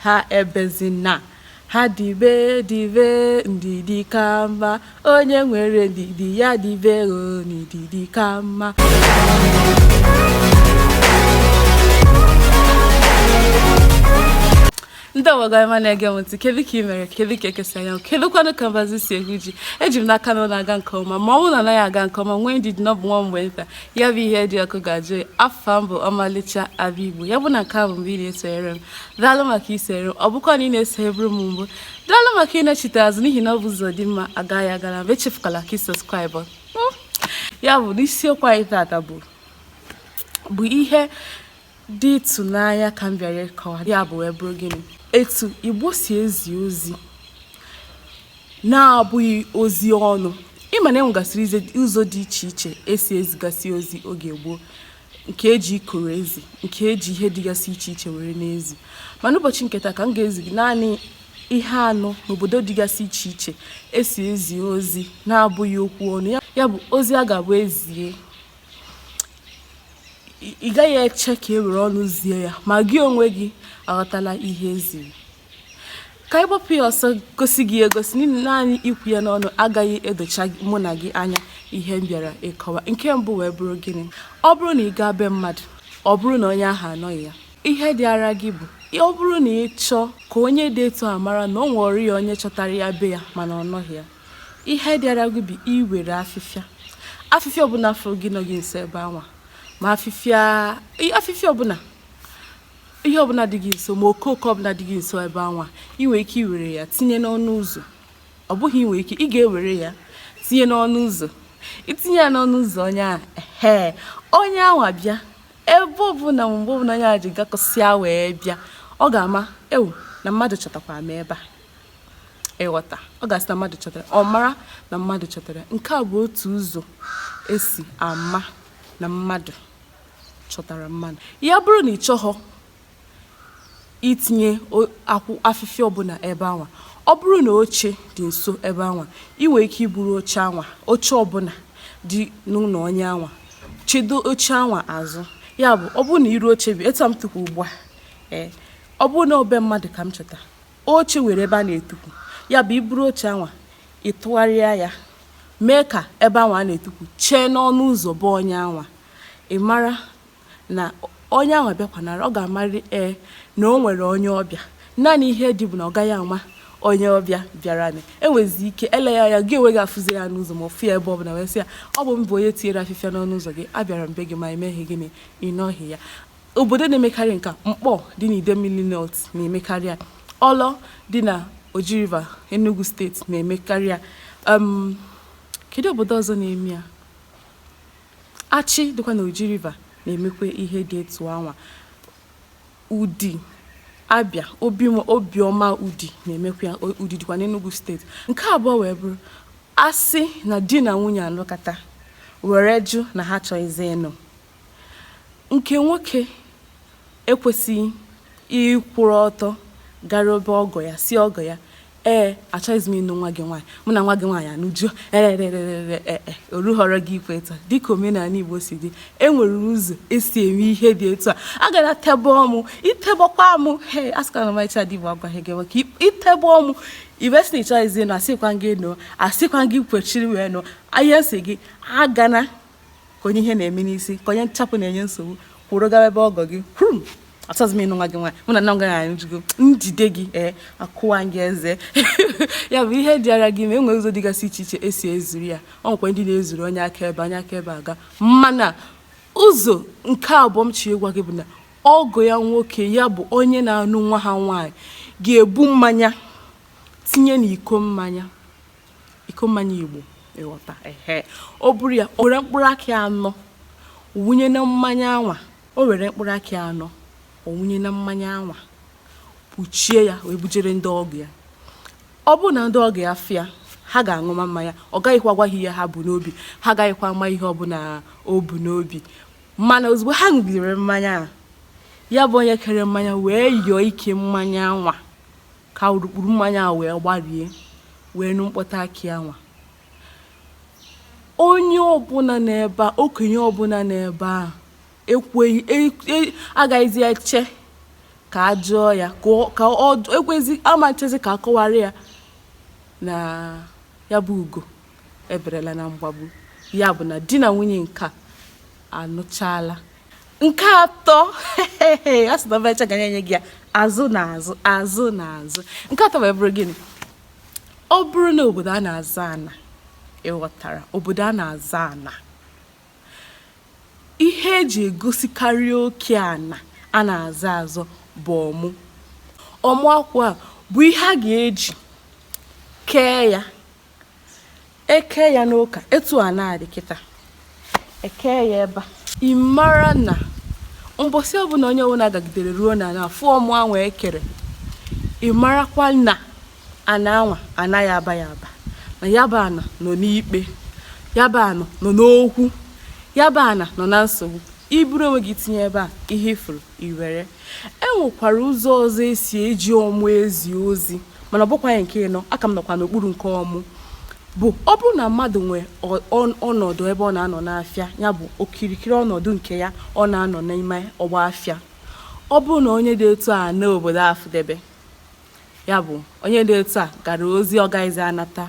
Ha ebezina ha dibe dibe ndidi ka mma onye nwere ndidi ya dibe o ndidi ka mma ndị ọgbagọma na-ege m ntị kedu ka ị mere kedu ka eke si anya kedu kwanụ ka mbazụ si egwu ji eji m n'aka na ọ na-aga nke ọma ma ọ bụrụ na ọ naghị aga nke ọma nwee ndidi na ọ bụ nwa mgbe nta ya bụ ihe dị ọkụ ga-ajụ oyi afa m bụ ọmalịcha abụ igbo ya bụ na nke a bụ mbụ ị na-esonyere m daalụ maka isonyere m ọ bụkwa na ị na-esonyeburu m mbụ daalụ maka ịnachite azụ n'ihi na ọ bụ ụzọ dị mma a gaa ya nga naabọ echefukwala ka ị subscribe hmm? ya bụ na isiokwu anyị tata bụ bụ ihe dị ịtụnanya ka m bịara ịkọwa ya bụ wee bụrụ gịnị etu Igbo si ezi ozi na-abụghị ozi ọnụ ị ma na e nwegasịrị ize- ụzọ dị iche iche esi ezigasị ozi oge gboo nke eji ikoro ezi nke eji ihe dịgasị iche iche were na-ezi mana ụbọchị nke taa ka m ga-ezi gị naanị ihe anọ n'obodo dịgasị iche iche esi ezi ozi na-abụghị okwu ọnụ ya- ya bụ ozi a ga-abụ e zie ị gaghị eche ka e were ọnụ zie ya ma gị onwe gị aghọtala ihe e ziri ka anyị gbapụ ya ọsọ gosi gị egosi n'ihi naanị ikwu ya n'ọnụ agaghị edocha mụ na gị anya ihe m bịara ịkọwa nke mbụ wee bụrụ gịnị ọ bụrụ na ị gaa be mmadụ ọ bụrụ na onye ahụ anọghị ya ihe dịara gị bụ ọ bụrụ na ị chọọ ka onye dị etu a mara na o nwere ya onye chọtara ya be ya mana ọ nọghị ya ihe dịara gị bụ iwere afịfịa afịfịa ọbụla fụrụ gị nọ gị nso ebe anwa ma afịfịa i- afịfịa ọbụla ihe ọbụla dị gị nso ma okooko ọbụla dị gị nso ebe anwa ị nwere ike iwere ya tinye n'ọnụ ụzọ ọ bụghị ị nwere ike ị ga-ewere ya tinye n'ọnụ ụzọ itinye ya n'ọnụ ụzọ onye ahụ ehe onye anwa bịa ebe ọbụla ma mgbe ọbụla onye ahụ ji gakọsịa wee bịa ọ ga-ama ewoo na mmadụ chọtakwa m ebe a ị ghọta ọ ga-asị na mmadụ chọtara ọ mara na mmadụ chọtara nke a bụ otu ụzọ esi ama na mmadụ chọtara mmadụ ya bụrụ na ị chọghọ itinye akwụ afịfịa ọbụla ebe anwa ọ bụrụ na oche dị nso ebe anwa ị nwere ike iburu oche anwa oche ọbụla dị n'ụlọ onye anwa chedo oche anwa azụ ya bụ ọ bụrụ na iru oche bi etu m tukwu ugbu a ee ọ bụrụ na ọ be mmadụ ka m chọta oche nwere ebe a na-etukwu ya bụ iburu oche anwa ịtụgharịa ya mee ka ebe anwa a na-etukwu chee n'ọnụ ụzọ be onye anwa ị mara na onye anwa bịakwanara ọ ga-amarị ee na o nwere onye ọbịa naanị ihe dị bụ na ọ gaghị ama onye ọbịa bịaranị e nwezi ike eleghị anya gị onwe gị afụzi ya n'ụzọ ma ọ fụ ya ebe ọ bụla wee sị ya ọ bụ m bụ onye tinyere afịfịa n'ọnụ ụzọ gị abịara m be gị ma emeghị gịnị ị nọghị ya Obodo na-emekarị nke a, Mkpọ dị n'Idemmili North na-emekarị ya, Ọlọ dị na Oji River, Enugu steeti na-emekarị ya. Um, kedu obodo ọzọ na-eme ya? Achị dịkwa na Oji River na-emekwa ihe dị etu anwa. Udi, Abịa, Obi, Obiọma Udi na-emekwa ya, O- Udi dịkwa n'Enugu steeti. Nke abụọ wee bụrụ a sị na di na nwunye anụkata were jụ na ha achọghịzi ịnụ. nke nwoke ekwesịghị ịkwụrụ ọtọ gara ebe ọgọ ya sị ọgọ ya ee achọghịzi m ịnụ nwa gị nwaanyị mụ na nwa gị nwaanyị anụjuo erererere ee e, orughịrị gị ikwu etu a dịka omenala igbo si dị e nwere ụzọ esi eme ihe dị etu a agana tebe ọmụ itebekwa ọmụ he asịkwana m icha dị igbo agwaghị gị maka itebe ọmụ ị bịa sị na ịchọghịzi ịnụ asịkwa gị nụ asịkwa gị kwechiri wee nụ ahịa nsị gị agana ka onye ihe na-eme n'isi ka onye nchapụ na-enye nsogbu kwụrụ gawa ebe ọgọ gị kwuru achọghịzi m ịnụ nwa gị nwaanyị mụ na nwa gị nwaanyị anụjugo njide gị ee akụwa gị eze ya bụ ihe dịara gị ma enwere ụzọ dịgasị iche iche esi ezuru ya o nwekwa ndị na-ezuru onye akaebe onye akaebe aga mana ụzọ nke abụọ m chọ ịgwa gị bụ na ọgọ ya nwoke ya bụ onye na-anụ nwa ha nwaanyị ga-ebu mmanya tinye n'iko mmanya iko mmanya igbo ịghọta ehe o buru ya o were mkpụrụ akị anọ wụnye na mmanya anwa o were mkpụrụ akị anọ ọ wụnye na mmanya anwa kpuchie ya wee bujere ndị ọgọ ya ọ bụrụ na ndị ọgọ ya fịa ha ga-aṅụma mmanya ọ gaghịkwa agwa ha ihe ha bu n'obi ha agaghịkwa ama ihe ọbụla o bu n'obi mana ozugbo ha ṅụgidere mmanya a ya bụ onye kere mmanya wee yọọ ike mmanya anwa Ka urukpuru mmanya ahụ wee gbarie wee nụ mkpọtụ akị anwa. Onye ọbụla nọ ebe a, okenye ọbụla nọ ebe a ekweghị e- e- agaghịzi eche ka a jụọ ya ka ọ- ka ọ ekwezi ama echezi ka a kọwara ya na ya bụ ugo eberela na mgbagbu ya bụ na di na nwunye nke a anụchala nke atọ a sị na ọbacha ga na-enye gị ya azụ na azụ azụ na azụ nke atọ wee bụrụ gịnị ọ bụrụ na obodo a na-azọ ana ịghọtara obodo a na-azọ ana ihe eji egosikarị oke ana a na-azọ azọ bụ ọmụ ọmụ akwụ a bụ ihe a ga-eji kee ya eke ya n'ụka etu ana dị kịta eke ya ebe ị mara na mbọsị ọbụla onye ọbụla gagidere ruo n'ana fụ ọmụ anwa ekere ị marakwa na ana anwa anaghị aba ya aba na ya bụ ana nọ n'ikpe ya bụ ana nọ n'okwu ya bụ ana nọ na nsogbu iburu onwe gị tinye ebe a ihe ifuru Iwere. E nwekwara ụzọ ọzọ e si eji ọmụ ezi ozi mana ọ bụkwaghị nke ịnọ aka m nọkwa n'okpuru nke ọmụ bụ ọ bụrụ na mmadụ nwee ọnọdụ ebe ọ na-anọ n'afịa ya bụ okirikiri ọnọdụ nke ya ọ na-anọ n'ime ọgba afịa ọ bụrụ na onye dị etu a naa obodo afụdebe ya bụ onye dị etu a gara ozi ọ gaghịzi anata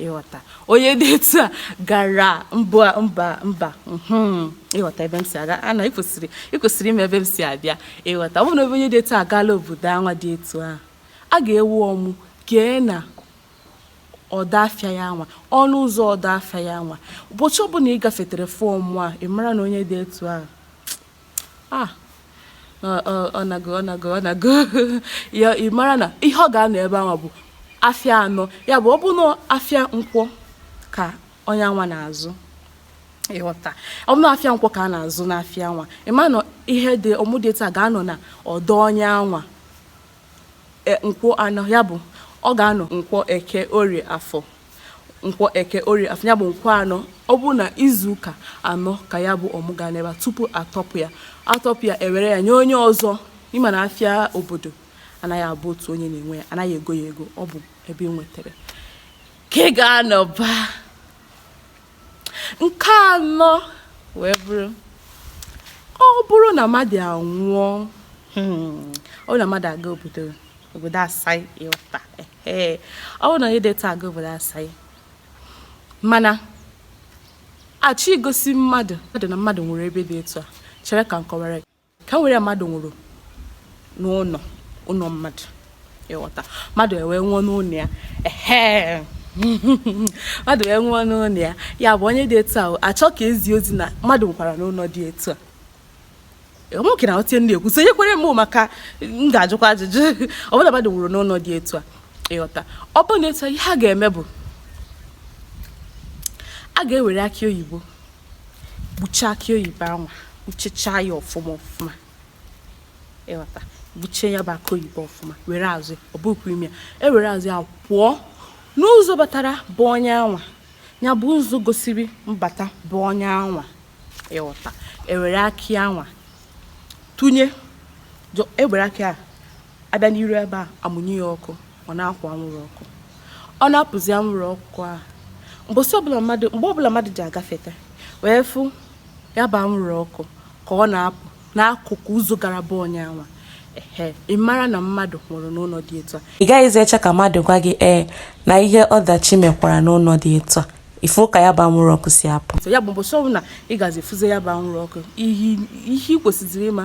ịghọta onye dị etu a gara mba mba mba hmm, ịghọta ebe m si aga ana ịkwesịrị ịkwesịrị ịma ebe m si abịa ịghọta ọ bụrụ na ebe onye dị etu a gaala obodo anwa dị etu a a ga-ewe ọmụ kee na ọdọ afịa ya nwa ọnụ ụzọ ọdọ afịa ya nwa ụbọchị ọbụla ị gafetere fụ ọmụ a ị mara na onye dị etu a ah ọ nago ọ nago ọ nago ya ị mara na ihe ọ ga-anọ ebe anwa bụ afịa anọ ya bụ ọ bụ na afịa nkwọ ka onye anwa na-azụ ịghọta ọ bụ na afịa nkwọ ka a na-azụ n'afịa anwa ị ma na ihe dị ọmụ dị etu a ga-anọ na ọdọ onye anwa e, nkwọ anọ ya bụ ọ ga-anọ nkwọ eke orie afọ nkwọ eke orie afọ ya bụ nkwọ anọ ọ bụ na izu ụka anọ ka ya bụ ọmụ ga-anọ ebe tupu atọpụ ya atọpụ ya ewere ya nye onye ọzọ ịma na afịa obodo anaghị abụ otu onye na-enwe ya anaghị ego ya ego ọ bụ ebe ị nwetara ka ị ga-anọba Nke anọ wee bụrụ ọ bụrụ na mmadụ anwụọ hmm, ọ bụrụ na mmadụ aga obodo obodo asaị ịghọta ọ bụrụ na onye dị etu a aga obodo asaị mana achọ igosi mmadụ mmadụ na mmadụ nwụrụ ebe dị etu a chere ka m kọwara ka m were mmadụ nwụrụ n'ụlọ ụlọ mmadụ ịghọta mmadụ ewee nwụọ n'ụlọ ya ehe mmadụ wee nwụọ n'ụlọ ya ya bụ onye dị etu a achọ ka ezi ozi na mmadụ nwụkwara n'ụlọ dị etu a nwoke na-aghọta ihe m na-ekwu sonyekwere m maka m ga-ajụkwa ajụjụ ọbụla mmadụ nwụrụ n'ụlọ dị etu a ịghọta ọ bụ na etu a ihe a ga-eme bụ a ga-ewere akị oyibo gbuchaa akị oyibo anwa gbuchechaa ya ọfụma ọfụma ịghọta gbuchie ya bụ akị oyibo ọfụma were azụ ọ bụkwa ịma e were azụ ya pụọ n'ụzọ batara be onye anwa ya bụ ụzọ gosiri mbata be onye anwa ịghọta ewere akị anwa tụnye ewere akị a abịa n'iru ebe a amụnye ya ọkụ ọ na-akwụ anwụrụ ọkụ ọ na-apụzi anwụrụ ọkụ a mbọsị ọbụla mmadụ mgbe ọbụla mmadụ ji agafeta wee fụ ya bụ anwụrụ ọkụ ka ọ na-apụ n'akụkụ ụzọ gara be onye anwa ehe ị mara na mmadụ nwụrụ n'ụlọ dị etu a ị gaghịzi eche ka mmadụ gwa gị ee na ihe ọdachi mekwara n'ụlọ dị etu a ị fụ ka ya bụ anwụrụ ọkụ si apụ ya bụ mbọsị ọbụla ị gazi fụzie ya bụ anwụrụ ọkụ ihe ị kwesịziri ịma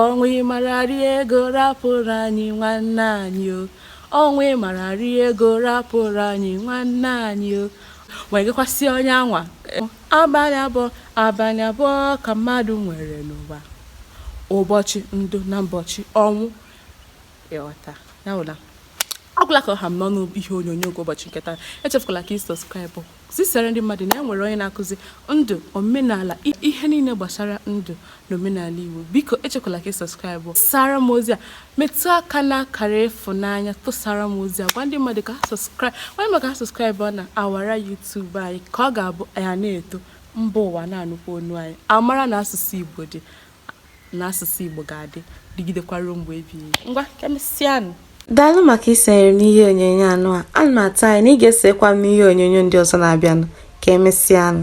Ọnwụ ị mara rie ego rapụrụ anyị nwanne anyị o ọnwụ ị mara rie ego rapụrụ anyị nwanne anyị o wee gakwasị onye anwa abalị abụọ abalị abụọ ka mmadụ nwere n'ụwa ụbọchị ndụ na mbọchị ọnwụ ịghọta ya bụ na ọ gwụla ka ọ ha m n'ọnụ ihe onyonyo nke ụbọchị nke taa echefukwala ka ị subscribe zisara ndị mmadụ na e nwere onye na-akụzi ndụ omenala ihe niile gbasara ndụ na omenala Igbo biko echekwala ka ị subscribe sara m ozi a metụ aka n'akara ịfụnanya tụsara m ozi a gwa ndị mmadụ ka ha subscribe onye ị ma ka ha subscribe na awara YouTube anyị ka ọ ga-abụ ya na-eto mba ụwa na-anụkwa onu anyị amara na asụsụ Igbo dị na asụsụ Igbo ga-adị dịgidekwa ruo mgbe ebighị ebi. Ngwa ka emesịanụ. Daalụ maka isonyere m n'ihe onyonyo anụ a. Ana m atụ anya na ị ga-esokwa m n'ihe onyonyo ndị ọzọ na-abịanụ. Ka emesịanụ.